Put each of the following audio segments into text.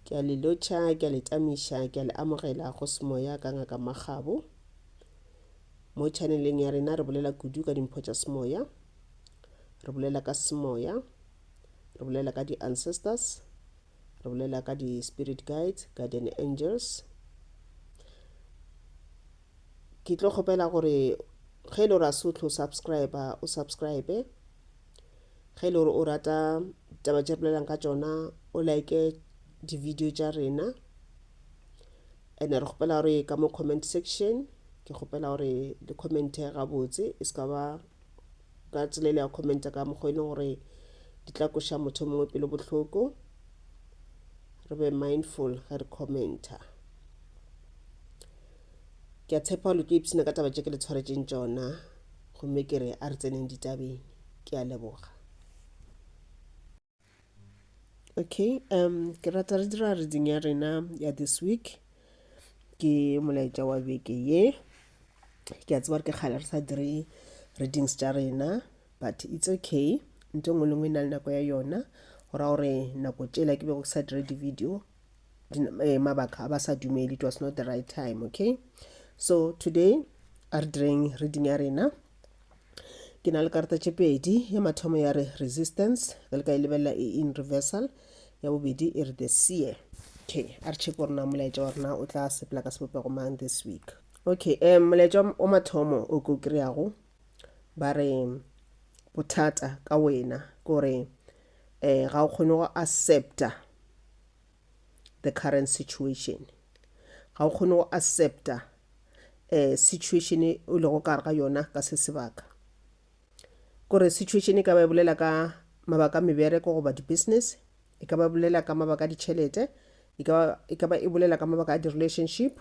Ke a le lotšha, ke a le tamiša, ke a le amogela go semoya ka Ngaka Makgabo. Mo chaneleng ya rena re bolela kudu ka dimpho tša semoya, re bolela ka semoya, re bolela ka di-ancestors, re bolela ka di-spirit guides, guardian angels. Ke tlo kgopela gore ge e le gore a se o tlo subscriber, o subscribe. Ge e le gore o rata taba tše bolelang ka tšona o like di-video tša rena and re kgopela gore ka mo comment section ke kgopela gore le commente gabotse e se ka ba ka tsela ile ya commenta ka mokgwa e leng gore di tla koša motho mongwe pelo bohloko re be mindful ge re commenta ke a tshepa gore le tlo ipshina ka taba tše ke le tshwaretšeng tšona gomme ke re a re tseneng ditabeng ke a leboga okay um ke rata re dira reading ya rena ya this week ke molaetša wa beke ye ke a tseba re ke kgale re sa dire readings tša rena but it's okay nto nngwe le nngwe e na le nako ya yona go ra gore nako tšela ke bego ke sa dire di-video eh, mabaka a ba sa dumeli it was not the right time okay so today a re direng reading ya rena ke na le karata tše pedi ya mathomo ya re resistance re le ka e lebelela e in reversal ya bobedi e re the seer okay a re check gore na molaetša wa rena o tla sepela ka sebopego mang this week okay um molaetša wa mathomo o ko kry-ago ba re bothata ka wena gore eh ga o kgone go accepta the current situation ga o kgone go accepta eh situation e o lego ka gare ga yona ka se sebaka kore situation e ka ba e bolela ka mabaka a mebereko goba di-business e ka ba bolela ka mabaka a ditšhelete e ka ba e ka ba e bolela ka mabaka a di-relationship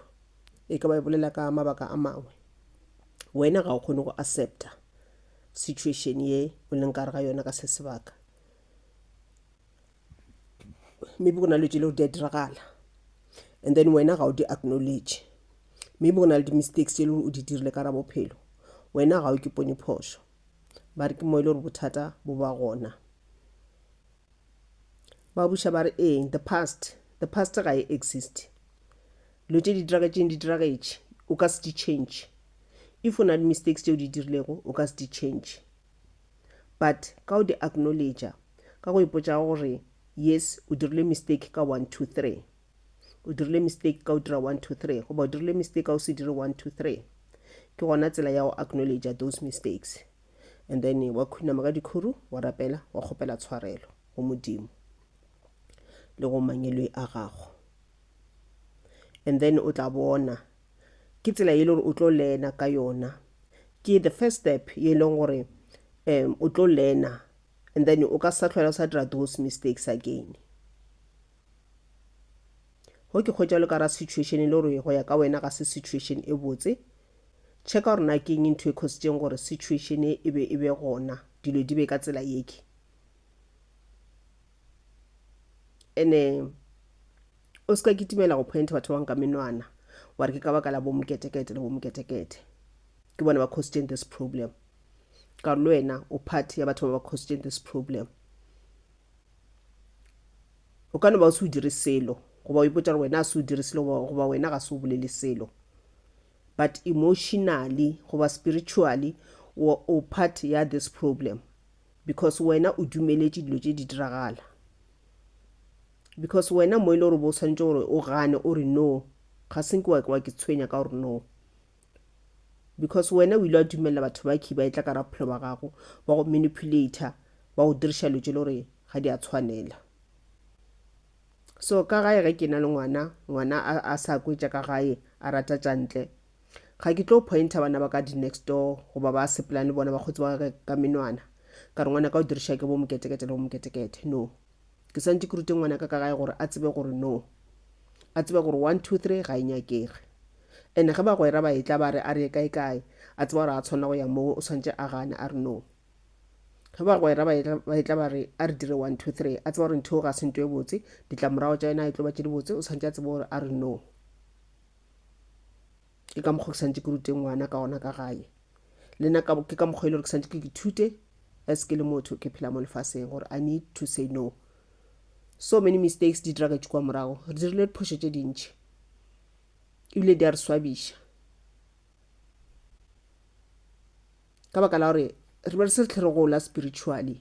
e ka ba e bolela ka mabaka a mangwe wena ga o kgone go accepta situation ye o leng ka re ga yona ka se sebaka maybe go na le tse lego di a diragala and then wena ga o di acknowledge maybe go na le di-mistakes tse e le gore o di dirile ka ra bophelo wena ga o ke pone phošo ba re ke mo e le gore bothata bo ba gona Ba buša ba re, Ee, the past. The past ga e existe. Dilo tše di diragetšeng di diragetše. O ka se di change. If o na le mistakes tše o di dirilego, o ka se di change. But ka o di acknowledger, ka go ipotša gore, yes, o dirile mistake ka one, two, three. O dirile mistake ka o dira one, two, three. Goba o dirile mistake ka o se dire one, two, three. Ke gona tsela ya go acknowledger those mistakes. and then wa khunama ka dikhuru wa rapela wa kgopela tshwarelo go modimo le go mangeloi a gago and then o tla bona ke tsela e le gore o tlo lena ka yona ke the first step ye e leng gore um o tlo lena and then o ka sa tlhola o sa dira those mistakes again Go ke hwetša le ka ra situation e le gore go ya ka wena ga se situation e botse. Checka gore na ke eng ntho e khositseng gore situation e e be e be gona, dilo di be ka tsela yeke. Ene o se ka kitimela go pointa batho ba bangwe ka menwana wa re ke ka baka la bomoketekete le bomoketekete ke bona ba khositseng this problem. Ka re le wena o part ya batho ba ba khositseng this problem. O ka no ba o se o dire selo, goba o ipotša gore wena ga se o dire selo, goba wena ga se o bolele selo. But emotionally goba spiritually o, o part ya this problem because wena o dumeletše dilo tše di diragala because wena mo e le gore bo swanetše gore o gane o re no ga se nke wa ke tshwenya ka gore no Because wena o ile wa dumelela batho ba key ba etla ka raphelo ba gago, ba go manipulator, ba go diriša lo tše le gore ga di a tshwanela. So ka gae ge ke na le ngwana, ngwana a, a sa kwetša ka gae, a rata tša ntle, ga ke tlo pointer bana ba ka di next door goba ba sepelang le bona bakgotsi ba ka ka menwana ka re ngwana ka o diriša ke bo moketekete le bo moketekete. No. Ke swantše ke rute ngwanaka ka gae gore a tsebe gore no. A tsebe gore one, two, three ga e nyakege. Ene ge bagwera ba etla ba re a re ye kae kae, a tseba gore a tshwanela go ya moo, o swantše a gane a re no. Ge bagwera ba etla ba etla ba re a re dire one, two, three, a tseba gore ntho eo ga se nto e botse, ditlamorago tša yona ga e tlo ba tše dibotse, o swantše a tsebe gore a re no. ke ka mokgwa ke santse ke rute ngwana ka gona ka gae le nna ke ka mokgwa e le gore ke santse ke ke thute as ke le motho ke phela mo lefaseng gore i need to say no so many mistakes di dira ka tšikwa morago re dirile diphošo tše dintšhi ebile di a re swabiša ka baka la gore re be re se re tlhe re gola spiritually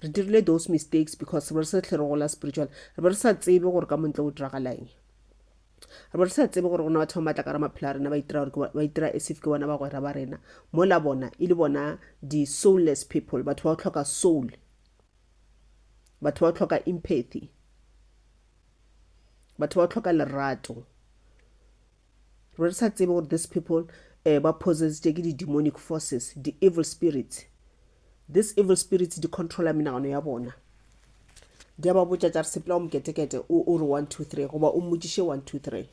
Re dirile those mistakes because re be re sa hle re gola spiritual. Re be re sa tsebe gore ka montle go diragalang. Re be re sa tsebe gore go na batho ba matla ka ra maphelo a rena ba itira gore ba itira as if ke bona bagwera ba rena. Mola bona e le bona di soulless people, batho ba go tlhoka soul. Batho ba go tlhoka empathy. Batho ba go tlhoka lerato. Re re sa tsebe gore these people eh, ba possessed ke di-demonic forces, di-evil spirits. These evil spirits di controla menagano ya bona. Di a ba botša tša re sepela o moketekete o o re one two three goba o mmotšiše one two three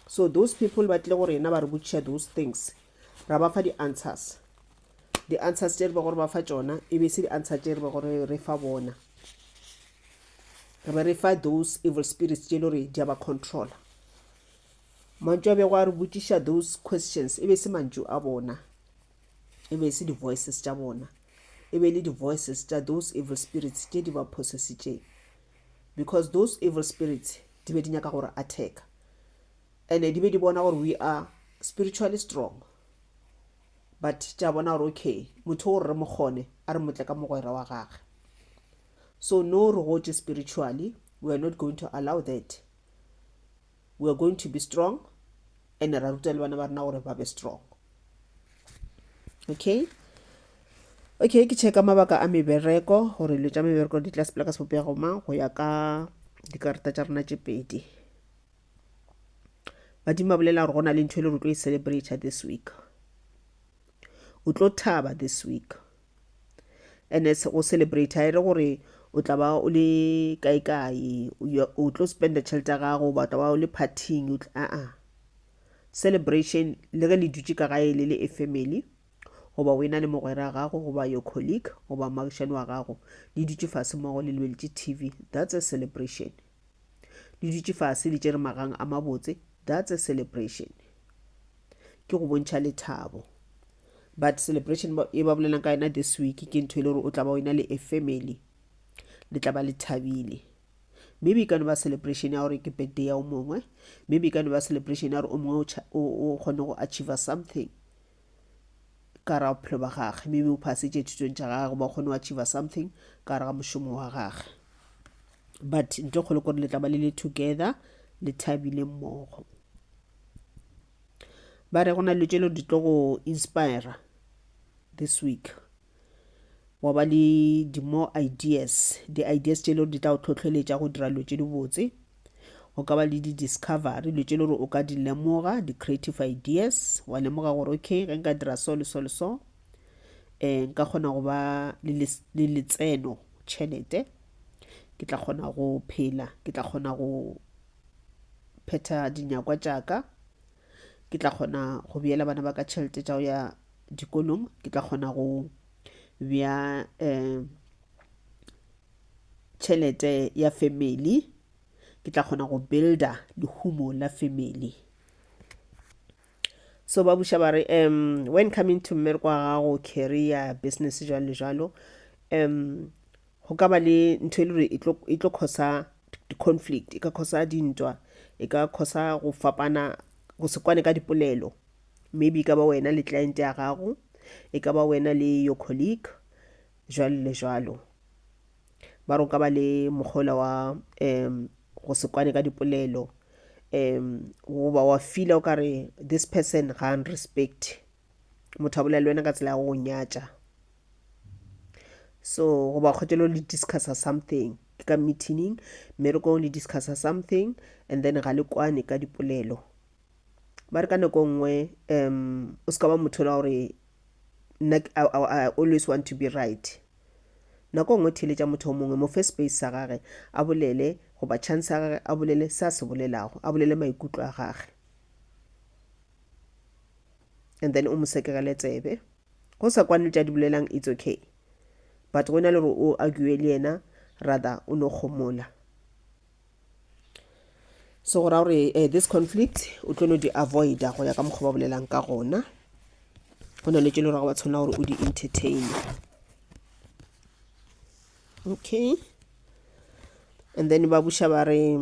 so those people ba tle go rena ba re botšiša those things ra ba fa di-answers di answers tše re be gore ba fa tšona e be se di answer tše re be gore re fa bona re be re fa those evil spirits tše e le gore di a ba controla mantšu a bego a re botšiša those questions e be se mantšu a bona e be se di-voices tša bona e be le di-voices tša those evil spirits tše di ba possessitšeng because those evil spirits di be di nyaka gore attack and di be di bona gore we are spiritually strong but tša bona gore okay motho o re re mo kgone a re motle ka mogwera wa gage so no re gotše spiritually we are not going to allow that we are going to be strong and ra ruta le bana ba rena gore ba be strong okay okay ke checka mabaka a mebereko gore dilo tša mebereko di tla sepela ka sebopego mang go ya ka dikarata tša rena tše pedi badimo ba bolela gore go na le ntho e le re tlo e celebrate this week o tlo thaba this week and go celebrate e re gore o tla ba o le kae kae o tlo spenda tšhelete ya gago ba tla ba o le partying aa celebration le ge le dutše ka gae le le e family goba o ena le mogwera wa gago goba your colleague goba magišane wa gago le dutše fase mogo le lebeletse tv that's a celebration Le dutše fase le tšere magang a mabotse. That's a celebration. Ke go bontšha lethabo. But celebration e ba bolelang ka yena this week ke ntho e le gore o tla ba o ena le a family. Le tla ba le thabile. Maybe e ka no ba celebration ya gore ke birthday ya o mongwe. Maybe e ka no ba celebration ya gore o mongwe o kgone go achieve something. ka gare ga bophelo ba gage, maybe o phasetše thutong tša gage goba o kgone wa achieva something ka gare ga mošomo wa gage but nto kgolo kore le tla ba le le together le thabile mmogo ba re go na dilo tše le di tlo go inspira this week wa ba le di-more ideas di-ideas tše le gore di tla go tlhotlheletša go dira dilo tše dibotse go ka ba le di-discovery dilo tše le gore o ka di lemoga di-creative ideas wa lemoga gore okay ge nka dira so le so le so um nka kgona go ba le letseno tšhelete ke tla kgona go phela ke tla kgona go phetha dinyakwa tša ka Ke tla kgona go beela bana ba ka tšhelete tša go ya dikolong. Ke tla kgona go bea um tšhelete ya family. Ke tla kgona go builder lehumo la family. So ba buša ba re um when coming to mmereko wa gago, career, business jwalo le jwalo um Go ka ba le ntho e le gore e tlo, e tlo causa di-conflict, e ka causa dintwa, e ka causa go fapana, go se kwane ka dipolelo. Maybe e ka ba wena le client ya gago, e ka ba wena le your colleague, jwalo le jwalo. Ba re go ka ba le mokgwa ola wa um go se kwane ka dipolelo, um goba wa feel-a o ka re this person ga a nrespect, motho a bolela le wena ka tsela ya go go nyatša. so goba kgotelo le discussa something ke ka meetining mmerekong le discussa something and then ga le kwane ka dipolelo ba re ka nako nngwe um o se ka ba motho la gore I always want to be right nako nngwe theletša motho o mongwe mo first space sa gage a bolele goba chance ya gage a bolele se a se bolelago a bolele maikutlo a gage and then o mo sekegele tsebe Go sa kwane le tša di bolelang it's okay. But go na le gore o argue le yena rather o no kgomola. So go ra gore uh, this conflict o tlo no di avoida go ya ka mokgwa ba bolelang ka gona. Go na le tše le gore ga wa tshwanela gore o di entertain. Okay. And then ba buša ba re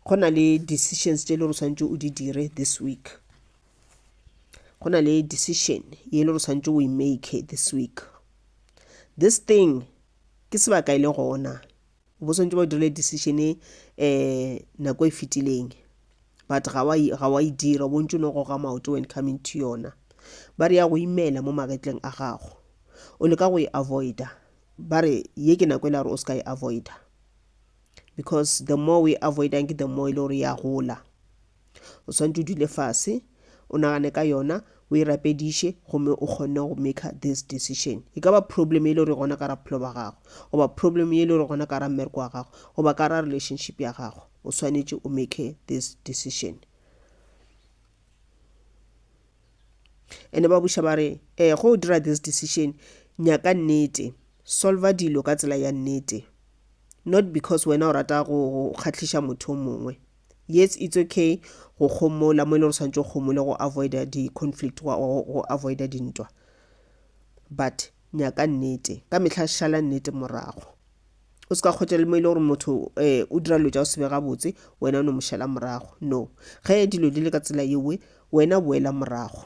go na le decisions tše le gore o tshwanetse o di dire this week. go na le decision ye le re swanetše we make this week this thing ke sebaka e le gona o bo swanetše ba dirile decision e um nako e fetileng but ga wa e dira o bontse o no goga maoto when coming to yona ba re ya go imela mo magetleng a gago o leka go e avoida ba re ye ke nako e la gore o se ka e avoida because the more we avoidang ke the more e le gore ya gola o swanetse o dule fase o nagane ka yona o e rapediše gomme o kgonne go maker this decision e ka ba problem e le gore gona ka ra bophelo ba gago goba problem e le gore gona ka ra mmereko wa gago goba ka ra relationship ya gago o swanetše o make this decision ene ba buša ba re um eh, go o dira this decision nyaka nnete solver dilo ka tsela ya nnete not because wena o rata go kgatlhiša motho o mongwe yes it's okay go kgomola mo e le gore santse o kgomole go avoida di-conflict go avoida dintwa but nyaka nnete ka mehla šala nnete morago o se ka kgotsa le mo e le gore motho um o dira dilo tša go sebe gabotse wena o no mo šala morago no ge dilo di le ka tsela yewe wena boela morago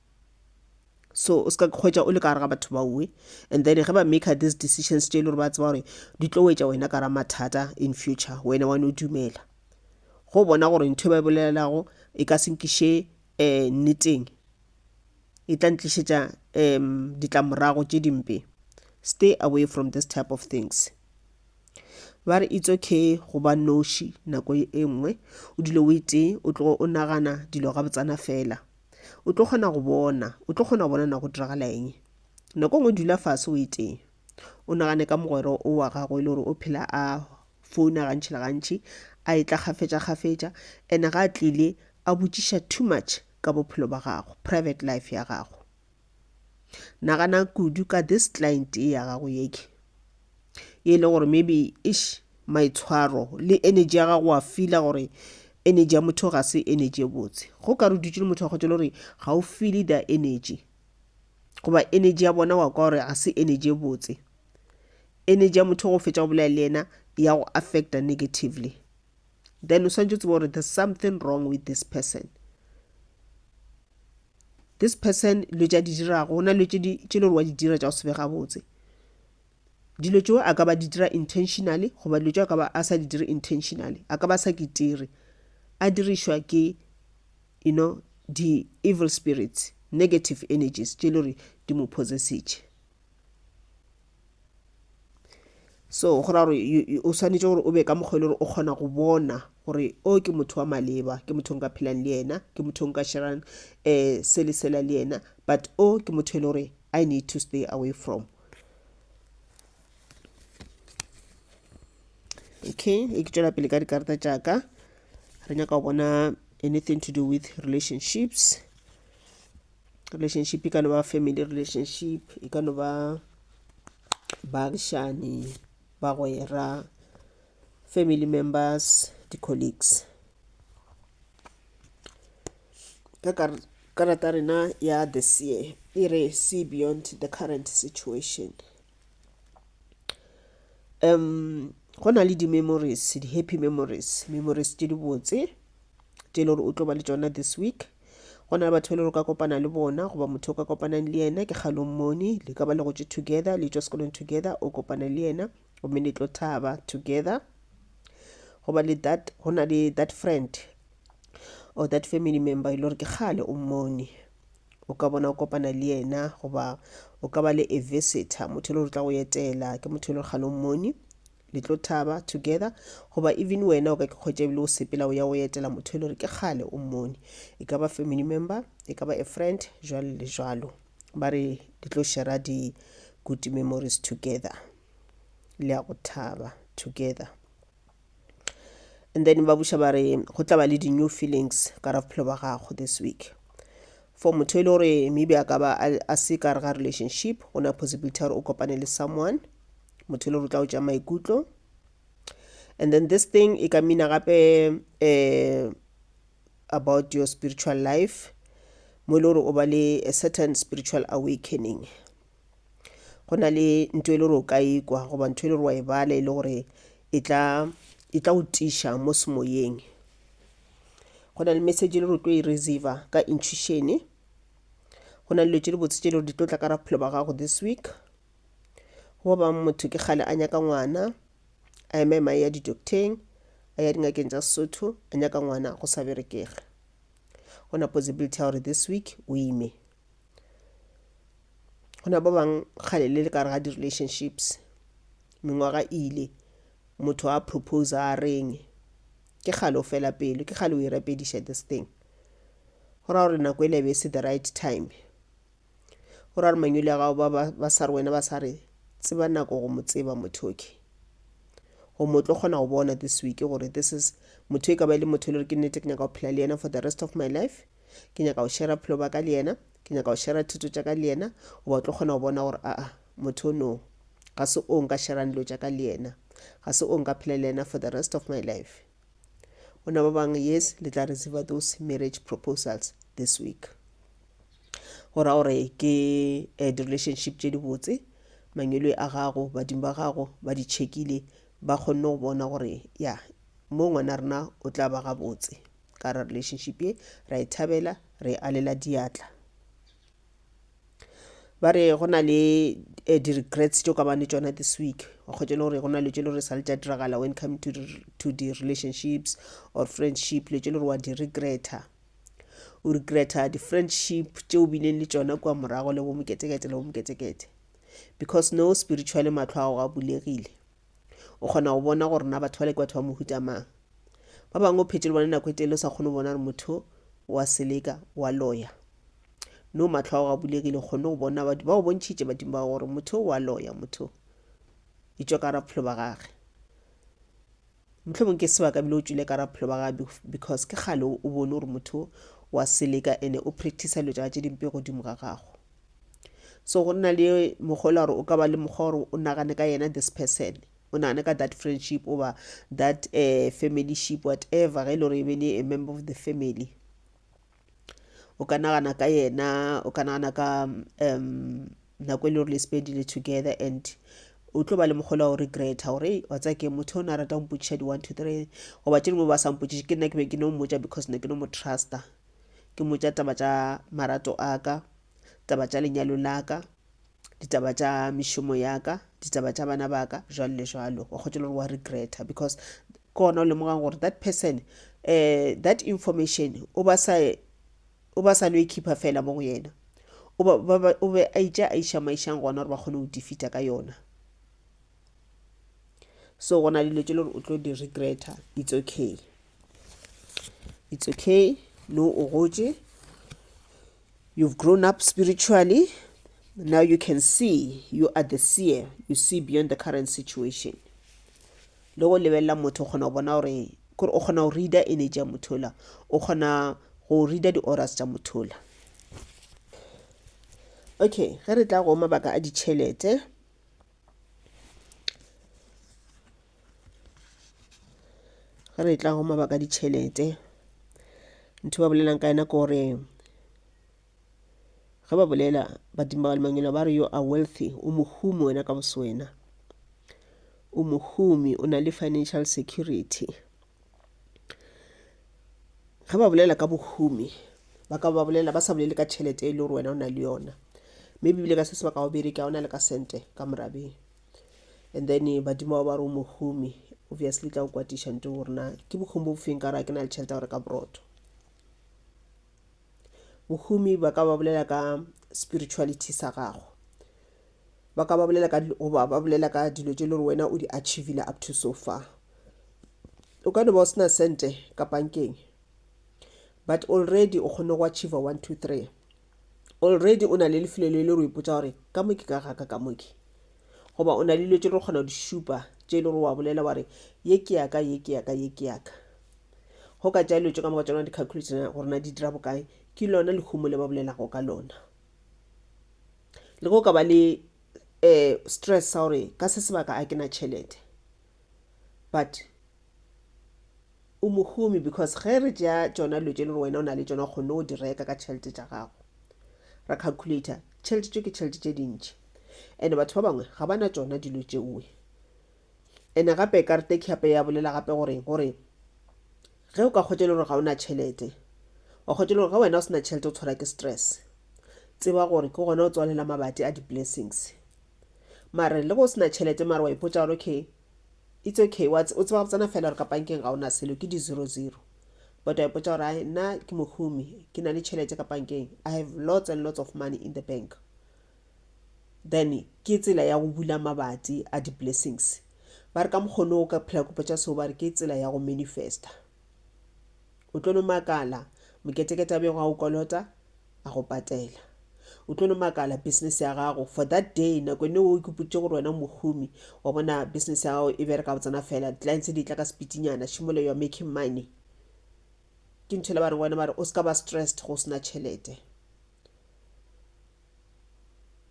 so o se ka kgwetša o le ka gare ga batho baowe and then ge ba maker these decisions tše e le gore ba tseba gore di tlo wetša wena ka ra mathata in future wena wa no dumela go bona gore ntho e ba e bolelelago e ka senkiše um nneteng e tla ntlišetša um ditlamorago tše dimpe stay away from this type of things ba re it's okay go ba noši nako e nngwe o dilo o itee o tlogo o nagana dilo ga botsana fela o tlo kgona go bona o tlo kgona go bona na go diragala eng nako ngwe dula fase o eteng o nagane ka mogwero o wa gago e le gore o phela a founa gantšhi le gantšhi a e tla gafetša gafetša ene ga a tlile a botšiša too much ka bophelo ba gago private life ya gago nagana kudu ka this client e ya gago yeke e le gore maybe ish maitshwaro le energy ya gago wa fila gore energy ya motho ga se energy e botse go ka re dutse le motho wa kgotse le gore ga o file the energy goba energy ya bona wa kwa gore ga se energy e botse energy ya motho go fetša go bolela le yena ya go affecta negatively then o swantse o tseba gore there's something wrong with this person This person dilo tša di dirago go na dilo tše le gore wa di dira tša go se be gabotse dilo tšeo a ka ba di dira intentionally goba dilo tšeo a ka ba a sa di dire intentionally a ka ba sa kitire a dirišwa ke you know di-evil spirits negative energies tše le gore di mo possessetše so go raya gore o swanetše gore o be ka mokgwa e le gore o kgona go bona gore o ke motho wa maleba ke motho o nka phelang le yena ke motho o nka sherang um se le sela le yena but o ke motho e le gore i need to stay away from okay e ke tšwela pele ka dikarata tšaka re nyaka go bona anything to do with relationships relationship e ka no ba family relationship e ka no ba baagišani bagwera family members di-colleagues ka karata ya rena ya the sea e re see beyond the current situation um go na le di-memories di-happy memories memories tše dibotse tše e le gore o tlo ba le tsona this week go na le batho le re ka kopana le bona goba motho o ka kopanang le yena ke kgalong mone le ka ba le gotše together le tšwa sekolong together o kopana le yena gomme le tlo thaba together goba le that go na le that friend or that family member e le gore ke kgale o mmone o ka bona o kopana le yena goba o ka ba le a visitor motho e le gore tla go etela ke motho e le gore kgale o mmone le tlo thaba together goba even wena o ka ke kgwetša ebile o sepela o ya go etela motho e le gore ke kgale o mmone e ka ba family member e ka ba a friend jalo le jalo ba re di tlo shera di-good memories together le ya go thaba together and then ba buša ba re go tla ba le di-new feelings ka ra bophelo ba gago this week for motho e le gore maybe a ka ba a se ka re ga relationship go na possibility gore o kopane le someone motho e le rutla go tša maikutlo and then this thing e ka mina gape um about your spiritual life mo e le gore o ba le a certain spiritual awakening go na le ntho e le gore o ka ikwa goba ntho e le gore wa e bala e le gore e tla e tla o tiša mo semoyeng go na le message e le gore o tlo e receiver ka intuitione go na le dilo tse di botse tse e le gore di tlo tla ka ra bophelo ba gago this week goba motho ke kgale a nyaka ngwana a ema ema ya didokteng a ya dingakeng tša sesotho a nyaka ngwana go sa berekege go na possibility ya gore this week o ime go na ba bangwe kgale le le kare ga di-relationships mengwaga ile motho a propose a reng ke kgale o fela pelo ke kgale o e rapediša this thing go ra gore nako e le be se the right time O ra re manyoli a gago ba sa re wena ba sa re tseba nako go mo tseba motho okay go mo tlo kgona go bona this week gore this is motho e ka ba e le motho e le gore ke nnete ke nyaka go phela le yena for the rest of my life ke nyaka go shera phelo ba ka le yena ke nyaka go shera thuto tša ka le yena goba o tlo kgona go bona gore aa motho no ga se o nka sherang dilo tša ka le yena ga se o nka phela le yena for the rest of my life Bona ba bang, yes, le tla receive those marriage proposals this week. Go ra gore ke eh, di-relationship tše di botse, mangwelwe a gago, badimo ba gago ba di checkile, ba kgonne go bona gore ya mo ngwana rena o tla ba gabotse ka ra relationship ye, ra e thabela, re e alela diatla. ba re go na le eh, di-regrets tšo ka bane tšona this week wa kgwetša le gore go na le tše le gore sa le tša diragala when come to, re- to di-relationships or friendship le tše le gore wa di-regreta o regreta di-friendship tše o bileng le tšona kua morago le bomoketekete le bomoketekete because no spiritually matlho a go a bulegile o kgona go bona gore na batho ba le ke batho ba mohuta mang ba bangwe o phetse le bone nako e tele o sa kgone go bona gore motho wa seleka wa loya no matlho a go a bulegile kgone go bona badimo ba go bontšhitše badimo ba gore motho o a loya motho e tšwa ka raphelo ba gage motlho mongwe ke sebaka bile o tswile ka raphelo ba gage because ke kgale o bone gore motho wa seleka ene o practice lo tša tše dimpe godimo ga gago so go nna le mogola gore o ka ba le mokgwa gore o nagane ka yena this person o nagane ka that friendship oba that uh, eh, family ship whatever ge e le gore e be le a member of the family o ka nagana ka yena o ka nagana ka um nako e le gore le sepedi le together and o tlo ba le mogolo wa go regreta gore wa tsaya ke motho o ne a rata go mpotšiša di-one to three goba tše dingwe ba sa mpotšiše ke nna ke be ke no mmotša because ne ke no mo trusta ke mmotša taba tša marato a ka taba tša lenyalo la ka ditaba tša mešomo ya ka ditaba tša bana ba ka jwalo le jwalo wa kgotšela gore wa regreta because ke gona o lemogang gore that person um that information o ba sa o ba sa no e khipha fela mo go yena o ba- ba- ba- o be a itša a išamaišang gona gore ba kgone go defeata ka yona so go na le dilo tše le gore o tlo di regreta it's okay it's okay no o gotše You've grown up spiritually, now you can see, you are the seer, you see beyond the current situation. Le go lebelela motho o kgona go bona gore kore o kgona go reader energy ya motho ola o kgona go reader di-oras tša motho ola okay ge re tla go mabaka a ditšhelete ge re tla go mabaka ditšhelete ntho ba bolelang ka yena ke gore ge ba bolela badimo ba lemangelo ba re yo a wealthy o mohumi wena ka boswena o mohumi o na le financial security ge ba bolela ka bohumi ba ka ba bolela ba sa bolele ka tšhelete e le gore wena o na le yona maybe bile ka se se ba ka go bereka ona le ka sente ka morabeng and then badimo ba ba re o mohumi obviously tla o kwatiša nto gore na ke bohumi bo bofeng ka gore a ke na le tšhelete ya gore ka borotho bohumi ba ka ba bolela ka spirituality sa gago ba ka ba bolela ka goba ba bolela ka dilo tše e le gore wena o di achievile up to so far o ka no ba o sena sente ka pankeng but already o kgonne go achieve one two three already o na le lefelo le le re ipotsa gore ka moke ka gaka ka moke goba o na le dilo tse re kgona go di šupa tse e le gore wa bolela wa re ye ke yaka ye ke yaka ye ke yaka go ka tša dilo tse ka moka tsona di-calculation gore na di dira bokae ke lona lehumo le ba bolelago ka lona le go ka ba le um stress sa gore ka se sebaka a ke na tšhelete but o mohumi because ge re tšea tšona dilo tše le gore wena o na le tšona o kgonne go di reka ka tšhelete tša gago ra calculator tšhelete tšeo ke tšhelete tše dintši and batho ba bangwe ga ba na tšona dilo tšeoe ene gape karete khape ya bolela gape gore gore ge o ka kgwetša e le gore ga o na tšhelete wa kgwetša e le gore ge wena o se na tšhelete o tshwara ke stress tseba gore ke gona o tswalela mabati a di-blessings mare le go se na tšhelete mare wa ipotsa gore okay It's okay wa o tseba botsana fela gore ka pankeng ga ona selo ke di zero zero but wa ipotsa gore ai nna ke mohumi ke na le tšhelete ka pankeng i have lots and lots of money in the bank then ke tsela ya go bula mabati a di-blessings ba re ka mokgono o ka phela kopo tša seo ba re ke tsela ya go manifesta o tlo no makala moketekete a bego a o kolota a go patela o tlo no makala business ya gago for that day nako ene o ikepotse gore wena mohumi wa bona business ya gago e bereka go tsena fela clients di tla ka sepitinyana shimole you are making money ke ntho le ba reng wena ba re o se ka ba stressed go sena tšhelete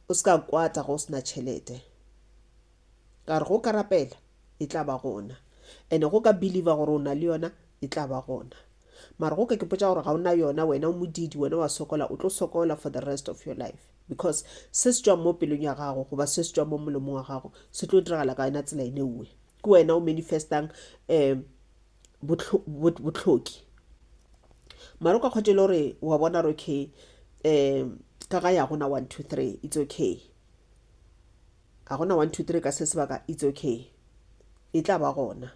o se ka kwata go sena tšhelete ka re go ka rapela e tla ba gona ene go ka believer gore o na le yona e tla ba gona Mara go ka ke potša gore ga o na yona wena o modiidi wena wa sokola o tlo sokola for the rest of your life because se se tšwang mo pelong ya gago goba se se tšwang mo molomong wa gago se tlo diragala ka yona tsela ene uwe ke wena o manifestang um botlhoki mara o ka kgothe le gore wa bona gore okay um ka ga ya gona one two three it's okay ga gona one two three ka se sebaka it's okay e tla ba gona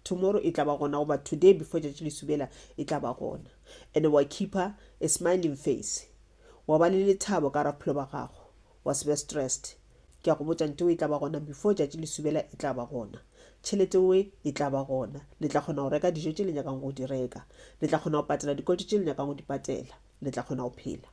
Tomorrow e tla ba gona goba today before tšatši le subela e tla ba gona. Ene wa keeper a smiling face. Wa ba le lethabo ka raphelo ba gago. Wa se be stressed. Ke a go botša ntewe e tla ba gona before tšatši le subela e tla ba gona. Tšhelete we e tla ba gona. Le tla kgona go reka dijo tše le nyakang go di reka. Le tla kgona go patela dikoloto tše le nyakang go di patela. Le tla kgona go phela.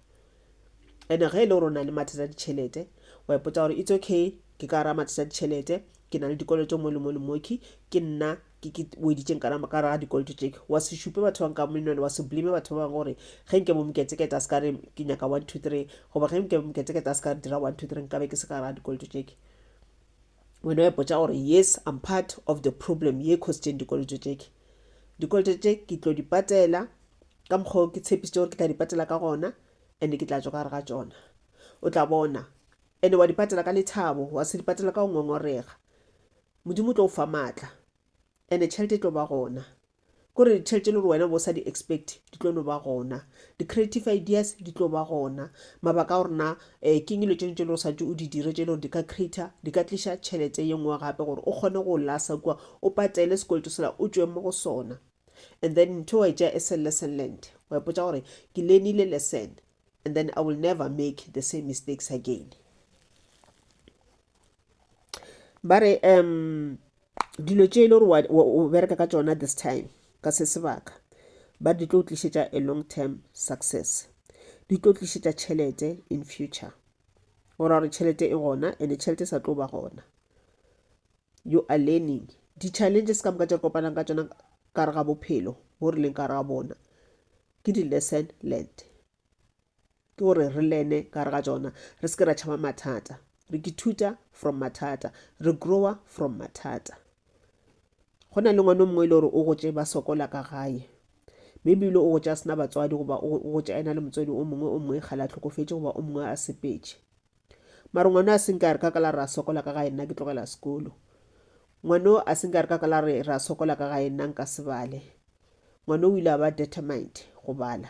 ene ge e le gore o na le mathata a ditšhelete wa ipotsa gore it's okay ke ka gara mathata a ditšhelete ke na le dikoloto mo le mo le moki ke nna ke ke weditseng kana ka gara dikoloto tšeke wa se šupe batho ba nka menone wa se blame batho ba bangwe gore ge nke bo moketsekete a se ka re ke nyaka one two three goba ge nke bo moketsekete a se ka re dira one two three nkabe ke se ka gara dikoloto tšeke wena wa ipotsa gore yes i'm part of the problem ye cositseng dikoloto tšeke dikoloto tše ke tlo di patela Ka mokgwa wo ke tshepišitše gore ke tla di patela ka gona, ene ke tla tšwa ka gare ga tšona. O tla bona. Ene wa di patela ka lethabo, wa se di patela ka go ngongorega. Modimo o tlo go fa matla. Ene tšhelete e tlo ba gona. Ke gore ditšhelete e le gore wena o be o sa di expect, di tlo no ba gona. Di-creative ideas di tlo ba gona. Mabaka a gore na um ke'ng dilo tšeno tše le gore o swanetše o di dire tše le gore di ka creator, di ka tliša tšhelete ye nngwe gape gore o kgone go lasa kua, o patele sekoloto sela, o tšwe mo go sona. and then ntho wa etša as a lesson learned wa ipotsa gore ke lenile lesson and then i will never make the same mistakes again ba re um dilo tše e le gore o bereka ka tsona this time ka se sebaka ba di tlo tlišetša a long term success di tlo tlišetša tšhelete in future o ra gore tšhelete e gona and tšhelete e sa tlo ba gona you are learning. Di challenges ka moka tše re kopanang ka tšona ka re ga bophelo bo re leng ka re ga bona ke di lesson learned ke gore re lene ka re ga tsona re se ke ra tšhaba mathata re ke thuta from mathata re growa from mathata go na le ngwana o mongwe e le gore o gotse ba sokola ka gae maybe ile o gotse a sena batswadi goba o gotse a ena le motswadi o mongwe o mongwe kgale a tlhokofetse goba o mongwe a sepetse Mara ngwano a se nke a re ka ka la re a sokola ka gae nna ke tlogela sekolo. Ngwano a se nke a re ka ka la re re a sokola ka gae nna nka se bale. Ngwano o ile a ba determined go bala.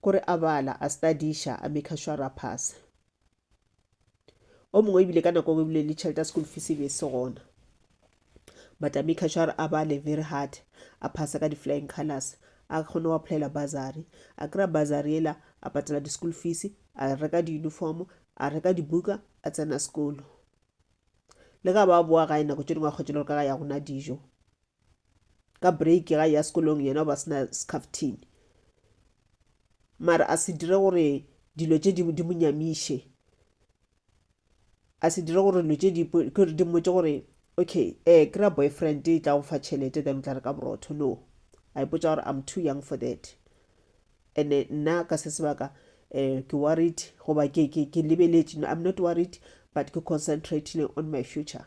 Kore a bala, a studiša, a maker sure a phase. O mongwe ebile ka nako ebile le tšhelete ya school fees e be e se gona. Matami Kashar a ba le very hard, a phasa ka di-flying colours, a kgone go applyela bursary, a kry-a bursary yela, a patela di-school fees, a reka di-uniform, a reka dibuka, a tsena sekolo. Le ga ba boa gae nako tše dingwe a kgwetše le gore ka ga ya gona dijo ka break ga ya sekolong yena o ba sena scaftine mara a se dire gore dilo tše di monyamiše a se dire gore lo tše di ke di mmotše gore okay eh kry-a boyfriend e tla go fa tšhelete then o tla re ka borotho no a ipotsa gore i'm too young for that and nna ka se sebaka eh ke worried goba ke ke ke lebeletše no i'm not worried but ke concentrating on my future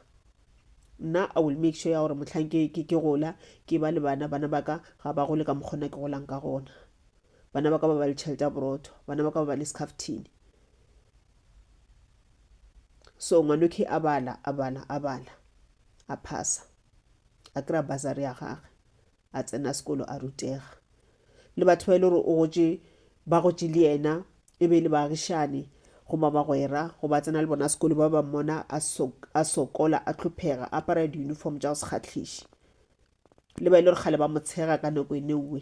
nna i will make sure ya gore mohlang ke ke ke gola ke ba le bana bana ba ka ga ba gole ka mokgona ke golang ka gona bana ba ka ba ba le tšhelete ya borotho bana ba ka ba ba le scaftini so ngwanoke a bala a bala a bala a phasa a kry-a basary ya gage a tsena sekolo a rutega le batho ba e le gore o gotse ba gotse le yena e be e le baagišane go ba bagwera go ba tsena le bona sekolo ba ba mmona a sokola a tlhophega a apara di-uniform tša go se kgatlhiše le ba e le gore kgale ba motshega ka nako e neuwe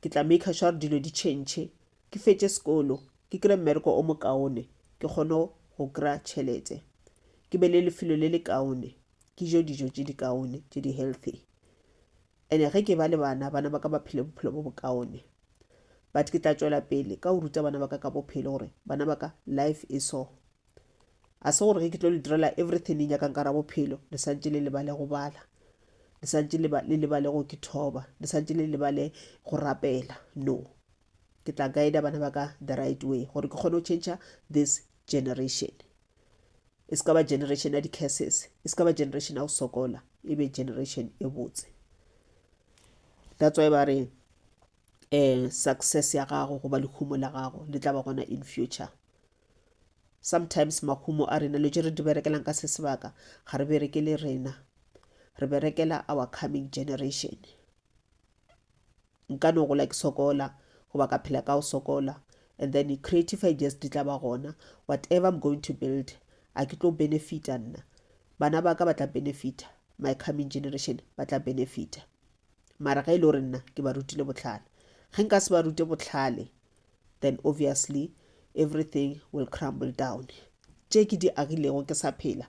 ke tla maker sure gore dilo di tšhentšhe ke fetše sekolo ke kry mmereko o mokaone ke kgone go kry tšhelete ke be le lefelo le le kaone ke jo dijo tše di kaone tše di healthy and-e ge ke ba le bana bana ba ka ba phele bophelo bo bokaone but ke tla tšwela pele ka go ruta bana ba ka ka bophelo gore bana ba ka life e so a se gore ge ke tlo le direla everything le nyakang ka ra bophelo le santse le lebale go bala le santse le lebale go ke thoba le santse le lebale go rapela no ke tla guida bana ba ka the right way gore ke kgone go change this generation e se ka ba generation ya di-curses e se ka ba generation ya go sokola e be generation e botse that's why ba re um success ya gago goba lehumo la gago le tla ba gona in future Sometimes mahumo a rena, lo tše re di berekelang ka se sebaka, ga re berekele rena. Re berekela our coming generation. Nka no gola ke sokola, goba ka phela ka o sokola, and then creative ideas di tla ba gona. Whatever I'm going to build, a ke tlo benefita nna. Bana ba ka ba tla benefita, my coming generation ba tla benefita. Mara ge e le gore nna ke ba rutile bohlale. Ge nka se ba rute bohlale, then obviously everything will crumble down. Tše ke di agilego ke sa phela,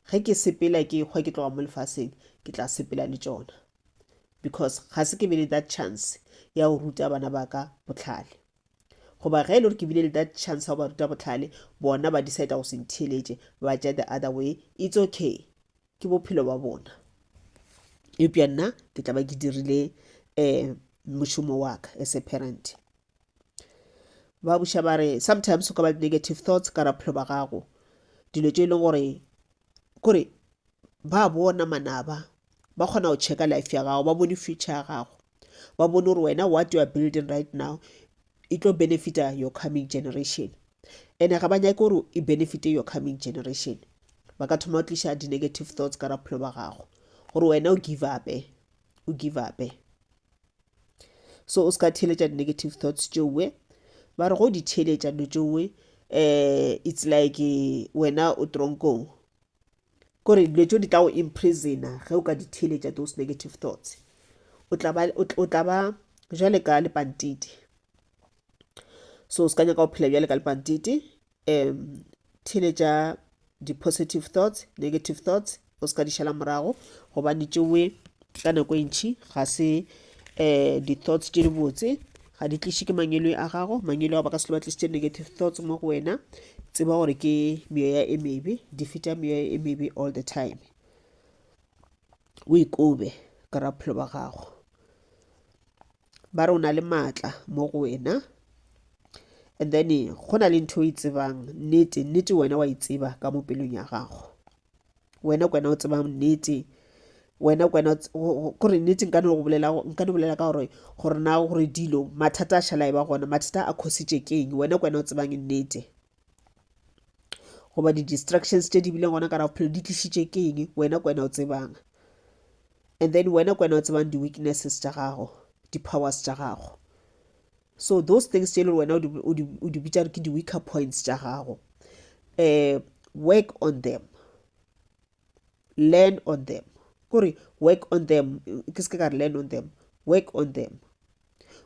ge ke sepela ke hwa ke tloga mo lefaseng, ke tla sepela le tšona. Because ga se ke be le that chance ya go ruta bana ba ka bohlale. Goba ge e le gore ke bile le that chance ya go ba ruta bohlale, bona ba decide go se ntheeletše, ba tša the other way, it's okay. ke bophelo ba bona eupša nna ke tla ba ke dirile um mošomo wa ka as a parent ba buša ba re sometimes o ka ba negative thoughts ka ra bophelo ba gago dilo tše e leng gore kore ba bona manaba ba kgona go checka life ya gago ba bone future ya gago ba bone gore wena what you are building right now e tlo benefita your coming generation ene ga ba nyake gore e benefite your coming generation ba ka thoma go tliša di-negative thoughts ka raphelo ba gago gore wena o give upe o give upe so o se ka theeletša di-negative thoughts tšeoe ba re go di theeletša no tšeoe um eh, it's like eh, wena o tronkong kore dilo tšeo di tla go imprisona ge o ka di theeletša those negative thoughts o tla ba o tla ba jale ka lepantiti so o se ka nyaka go phela bjale ka lepantiti um theeletša di-positive thoughts negative thoughts o se ka di šala morago gobane tšewe ka nako e ntšhi ga se um di-thoughts tše dibotse ga di tliše ke mangelo a gago mangelo a ba ka se ba tlišitše negative thoughts mo go wena tseba gore ke meoya e mebe di feta meoya e mebe all the time o ikobe ka raphelo ba gago ba re o na le maatla mo go wena and then go na le ntho o e tsebang nnete nnete wena wa e tseba ka mo pelong ya gago wena kwena o tsebang nnete wena kwena gore nnete nka no go bolela nka no bolela ka gore gore na gore dilo mathata a šhala e ba gona mathata a khositše keng wena kwena o tsebang nnete goba di-distractions tše di bileng gona ka raphelo di tlišitše keng wena kwena o tsebang and then wena kwena o tsebang di-weaknesses tša gago di-powers tša gago So those things tše e le gore wena o di bitša re ke di-weaker points tša gago, um work on them, learn on them. Kore work on them, ke se ke ka re learn on them, work on them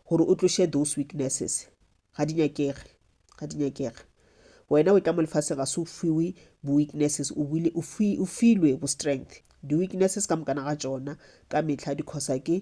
gore o tloše those weaknesses. Ga di nyakege, ga di nyakege. Wena o tla mo lefase ga se o fiwe bo-weaknesses, o filwe bo-strength. Di-weaknesses ka mokana ga tšona ka mehla di-causa ke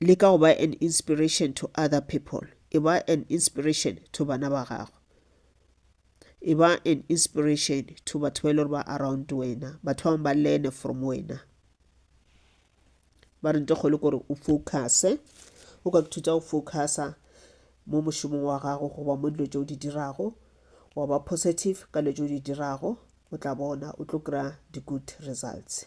Leka go ba an inspiration to other people. E ba an inspiration to bana ba gago. E ba an inspiration to batho ba e le gore ba around wena. Batho ba bangwe ba learne from wena. Ba re nte kgolo kore o focuse. O ka thuta go focusa mo mošomong wa gago goba mo dilo tse o di dirago wa ba positive ka dilo tse o di dirago o tla bona o tlo kry-a di-good results